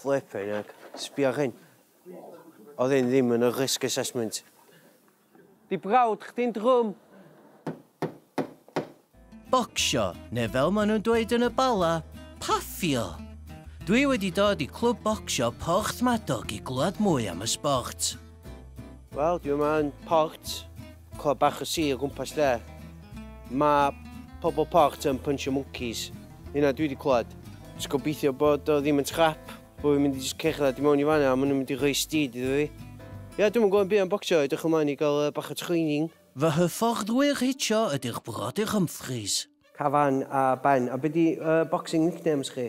Flippin heck, sbia ar hyn. Oedd hyn ddim yn y risk assessment. Di brawd chdi'n drwm! Bocsio, neu fel maen nhw'n dweud yn y Bala, paffio! Dwi wedi dod i Clwb Bocsio Porthmadog i glywed mwy am y sbort. Wel, dwi yma yn Port. Clwb bach y sir o gwmpas lle. Mae pobl port yn punch y monkeys. Hynna dwi wedi clywed. Just gobeithio bod o ddim yn scrap. Bod fi'n mynd i just cerdded i mewn i fanna a maen nhw'n mynd i rhoi steed iddo fi. Ia, dwi'm yn gwybod byd am bocsio, edrych ymlaen i gael bach o training. Fy hyfforddwyr hitio ydy'r Brodyr Humphreys. Cafan a Ben. A be di boxing nicknames chi?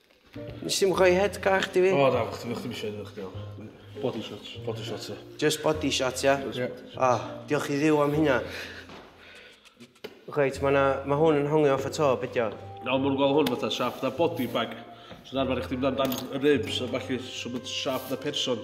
Nes i'm rhoi head gach di fi. O, da, chdi ddim eisiau edrych gael. Body shots. Body shots, ia. Just body shots, ia? Ia. O, diolch i ddiw am hynna. Reit, mae ma hwn yn hongi off y to, bydio. Nawr mwyn gweld hwn fatha siap na body bag. So'n arfer i chdi mynd amdan y ribs a falle sy'n mynd siap na person.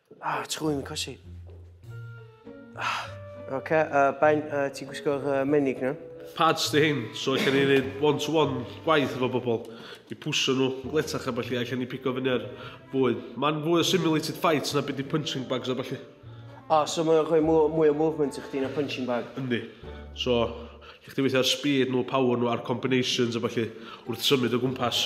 Ah, ti'n gwybod yn cosi. Ah. Oce, okay, uh, Ben, uh, ti'n gwisgo'r uh, menig na? Pads di hyn, so allan ni wneud one-to-one -one gwaith efo bobl. I pwysio nhw, gletach a falle, allan ni pigo fyny ar fwy. Mae'n fwy o simulated fights na byd i punching bags a falle. O, oh, so mae'n rhoi mwy o movement i chdi na punching bag? Yndi. So, lle chdi weithio ar speed nhw, power nhw, a'r combinations a falle, wrth symud o gwmpas.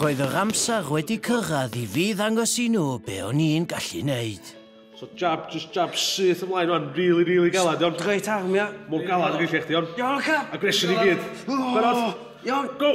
Roedd yr amser wedi cyrraedd i fi ddangos i nhw be o'n i'n gallu neud. So jab, just jab syth ymlaen rwan, really, really galad, iawn? Great arm, ia? Mor galad ag eich chdi, iawn? Iawn, oce? Aggression i gyd. Barod? Iawn. Go!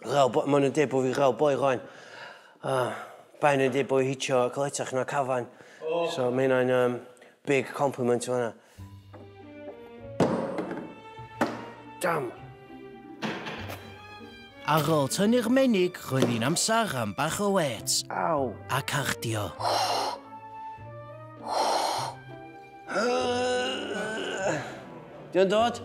Rhaw boi, maen nhw'n dweud bod fi rhaw boi rhaen. A baen nhw'n dweud bod fi hitio caletach na cafan. Oh. So mae hynna'n um, big compliment o hynna. Dam! Ar ôl tynnu'r menig, roedd hi'n amser am bach o wet. Aw! A cardio. Diolch dod?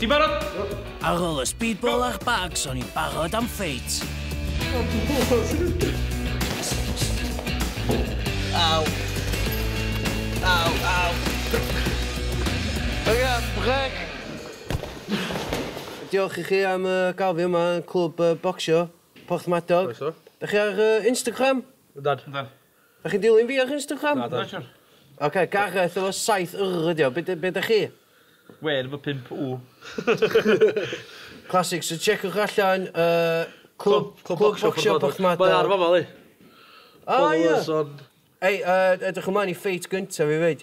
Ti'n barod? Ar ôl y speedball a'r bags, o'n i'n barod am ffeit. Aw. Aw, aw. Oce, brec. Diolch i chi am uh, gael fi yma yn clwb uh, bocsio, Porthmadog. Croeso. Da chi ar uh, Instagram? Ydad. Ydad. Dach chi'n dilyn fi ar Instagram? Nadw. Na siŵr. Ocê, Gareth efo saith Y ydi o. Be d- be dach chi? Wên efo pump W. Classic, so tsieciwch allan yy Clwb Clwb Bocsio Porthmadog. Mae ar fama yli. O ia! Followers on Ei, yy, edrych ymlaen i ffeit gynta fi 'fyd.